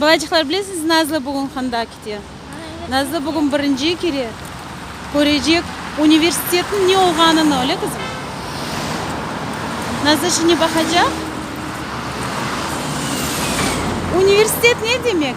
Balaycıqlar, bilesiñiz, Nazlı bugün handa kite. Nazlı bugün birinci kere körecek universitetniñ ne olğanını, öyle, qızım? Nazlı şimdi baqacaq. Universitet ne demek?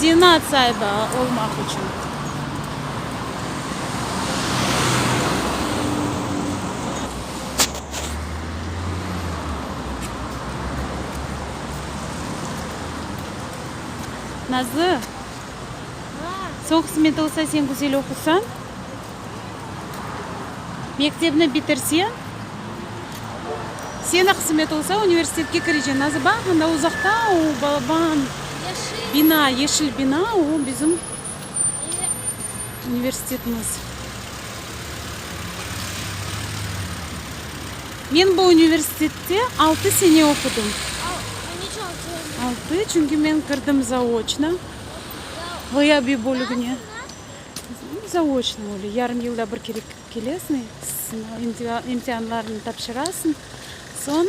Zenaat saibi olmaq içün. Nazlı, soq smet olsa, sen güzel oqusan. Mektebni bitirse, sene qısmet olsa, universitetke kireceksin. Nazı baq, anda uzaqta o balaban bina, yeşil bina, o bizim universitetimiz. Men bu universitette altı sene oqudım. Altı, çünki men kirdim zaoçno, ğıyabiy bölügine. Zaoçnıy, öyle, yarım yılda bir kere kirip kelesıñ, sınav, imtianlarnı tapşırasıñ, soñ,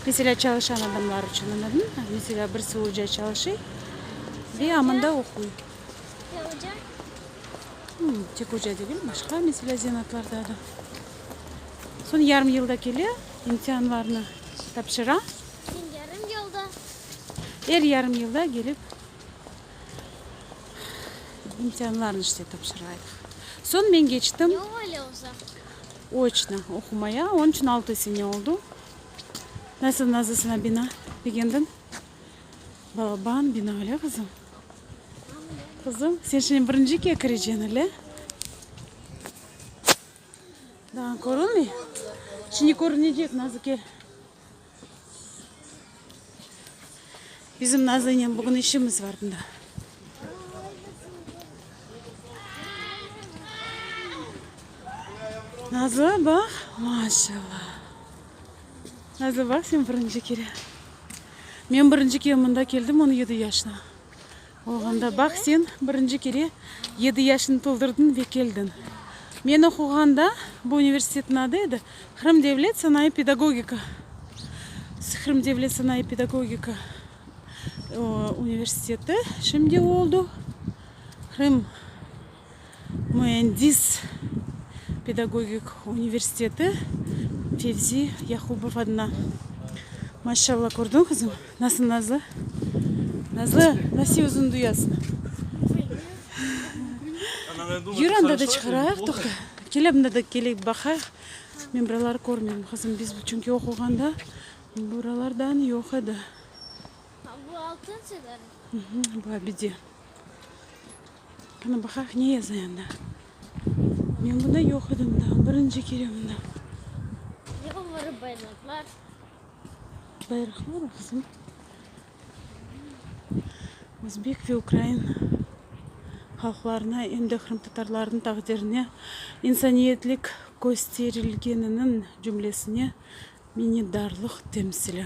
meselâ, çalışan adamlar içün, añladın? Meselâ, birisi oca çalışıy ve amında oquy. Ya oca? Tek oca degil, başqa, meselâ, zenatlarda da. Soñ yarım yılda kele, imtianlarnı tapşıra. Yarım yılda? Er yarım yılda kelip. İmtianlarnı işte tapşırayıq. Soñ men keçtim. Ne öyle uzaq? Oçno oqumaya. Onıñ içün altı sene oldı. Nasıl nazısına bina begendiñ? Balaban bina öyle qızım? Qızım, sen şimdi birinciga kireceksin öyle? Daa körülmey? Şimdi körünecek Nazı kel. Bizim Nazlınen bugün işimiz var bunda. Nazlı bak, maşallah. Nazlı bak, sen birinci kere. Men birinci kere mında keldim on yedi yaşta. Olğanda, baq, sen birinci kere yedi yaşını toldurdıñ ve keldiñ. Men oquğanda, bu universitetniñ adı edi, Qırım devlet sanayı pedagogika, Qırım devlet sanayı pedagogika universiteti, şimdi oldu Qırım. Müendis pedagogik universiteti Fevzi Yahubov adına. Maşallah, kördiñ qızım, nasıl nazlı? Nazlı, nasi özüni duyasıñ? Yür, anda da çıqarayıq, toqta, kele bunda da keleyik, baqayıq. Men buraları körmeyim, qızım, biz çünki oquğanda buralardan yoq edi. Bu Altınsever mi? Bu Abide. Qana baqaq ne yaza anda. Men bunda yoq edim da, birinci kere bunda. Ne oları bayraqlar? Bayraqlar o qızım. Özbek ve ukrain halqlarına em de qırımtatarlarnıñ taqdirine insaniyetlik kösterilgeniniñ cümlesine minnetdarlıq temsili.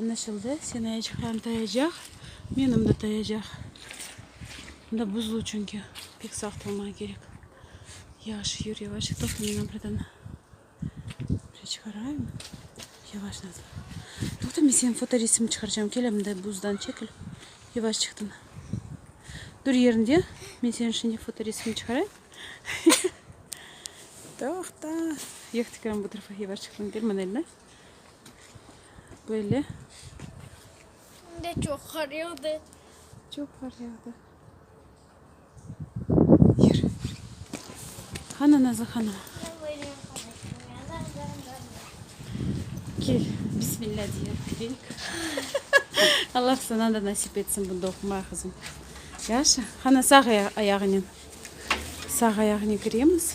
Añlaşıldı, seni ayçıqlarını tayacaq, menim de tayacaq. Bunda buzlu çünki, pek saq turmağa kerek. Yavaş yür, yavaş, toqta meni buradan bir çıqarayım. Yavaş nazım. Toqta men seni fotoresim çıqarcam, kel mında buzdan çekil. Yavaş çıqtın. Dur yerinde, men seni şimdi fotoresim çıqarayım. Toqta. Yoq, tüküren bu tarafa, yavaş çıqtın, kel mında eline. Böyle. Bugün de çoq qar yağdı. Çoq qar yağdı. Yürü. Hanı Nazlı hanım? Kel, bismillah diye gireyik. Allah sana da nasip etsin bunda oqumaya qızım. Yaşa. Hanı sağ ayağınen. Sağ ayağınen kiremiz.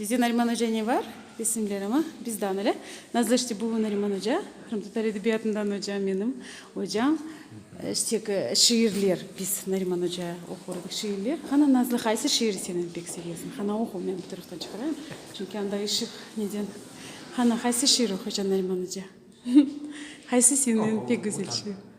Bizde Nariman oca ne bar? Desinler, amma bizdan öyle. Nazlı işte bu Nariman oca, qırımtatar edebiyatından oca, menim ocam. İşte ki, şiirler, biz Nariman oca oqur edik şiirler. Qana, Nazlı, qaysı şiiri sen endi pek sevesiñ? Qana, oqu, men bu taraftan çıqarayım. Çünki anda işıq neden. Qana, qaysı şiir oquycan Nariman oca? Qaysı senin eñ pek güzel şiir?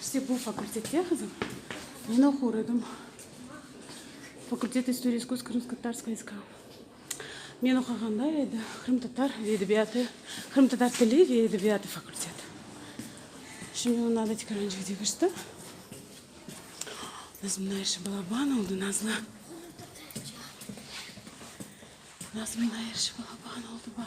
İşte bu fakultetke qızım men oqur edim. Fakultet istoriya iskustva krımsko-tatarskoye SK. Men oqağanda edi qırımtatar ve edebiyatı, qırımtatar tili ve edebiyatı fakulteti. Şimdi ondan da Tikeranjık'da keçti. Nazım Nayiş Balaban oldı Nazlı. Nazım Nayiş Balaban oldı baq.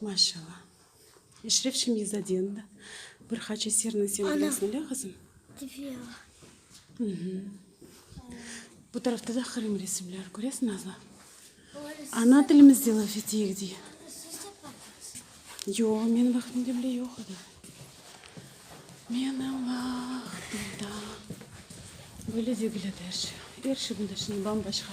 Maşalla. Eşref Şemiyzadeniñ da bir qaç eserini sen bilesiñ, öyle qızım? Tüfeñ. Bu tarafta da qırım resimleri köresiñ, Nazlı? Ana tilimizde laf eteyik, dey. Yoq, menim vaqtimde bile yoq edi. Menim vaqtimde böyle degil edi er şey. Er şey bunday, şimdi bam-başqa.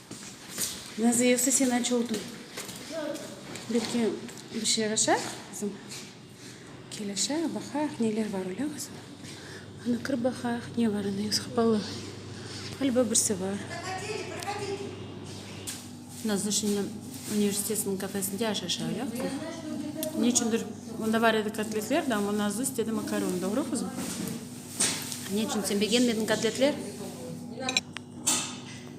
Naziyevsi sen aç oldun. Belki bir şey yaraşar qızım. Kel aşağı baqaq neler bar öyle qızım. Anı kirip baqaq ne bar anda yüz qapalı. Ğaliba birsi bar. Nazuşniñni universitetiniñ kafesinde aş aşa öyle qızım. Ne içündir onda bar edi kotletler de amma Nazuz dedi makaron doğru qızım. Ne içün sen begenmediñ kotletler?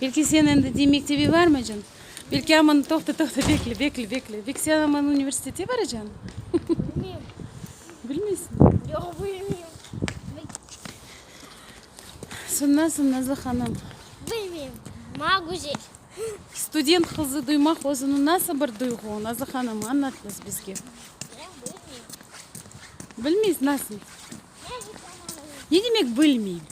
Belki sen endi de mektebe barmaycan. Belki aman toqta toqta bekle bekle bekle. Belki sen aman universitete baracan. Bilmeyim. Bilmeysiñ? Yoq bilmeyim. Sen nasıl Nazlı hanım? Bilmeyim. Maña güzel. Student qızı duymaq özüni nasıl bir duyğu Nazlı hanım añlat biz bizge. Ben bilmeyim. Bilmeysiñ nasıl? Ne demek bilmeyim?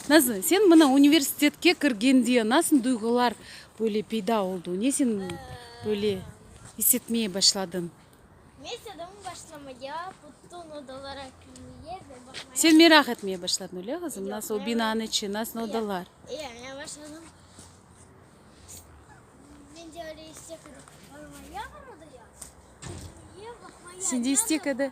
Nasıl, sen mına universitetke kirgen diye nasıl duyğular böyle peyda oldu? Ne sen böyle isetmeye başladın? Men istedim başlamaya, bütün odalara kirmeye ve bakmaya. Sen meraq etmeye başladın, öyle qızım? Yoq, Nasıl o men- binanın içi, nasıl Yoq. odalar? Ee, men başladım. Men de öyle istek edip barmaya, barmaya, kirmeye, bakmaya. Sen de istek edi.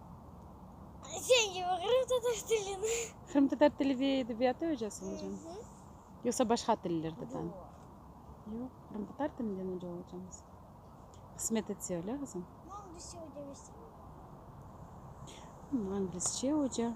Sen kibi qırımtatar tilini. Qırımtatar tili ve edebiyatı öcasıñ hocam? Yoqsa başqa tillerde de? Yoq, qırımtatar tilinden oca olacağıñız. Qısmet etse öyle qızım. Anglisçe oca.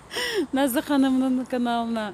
Nazlı hanımnıñ kanalına.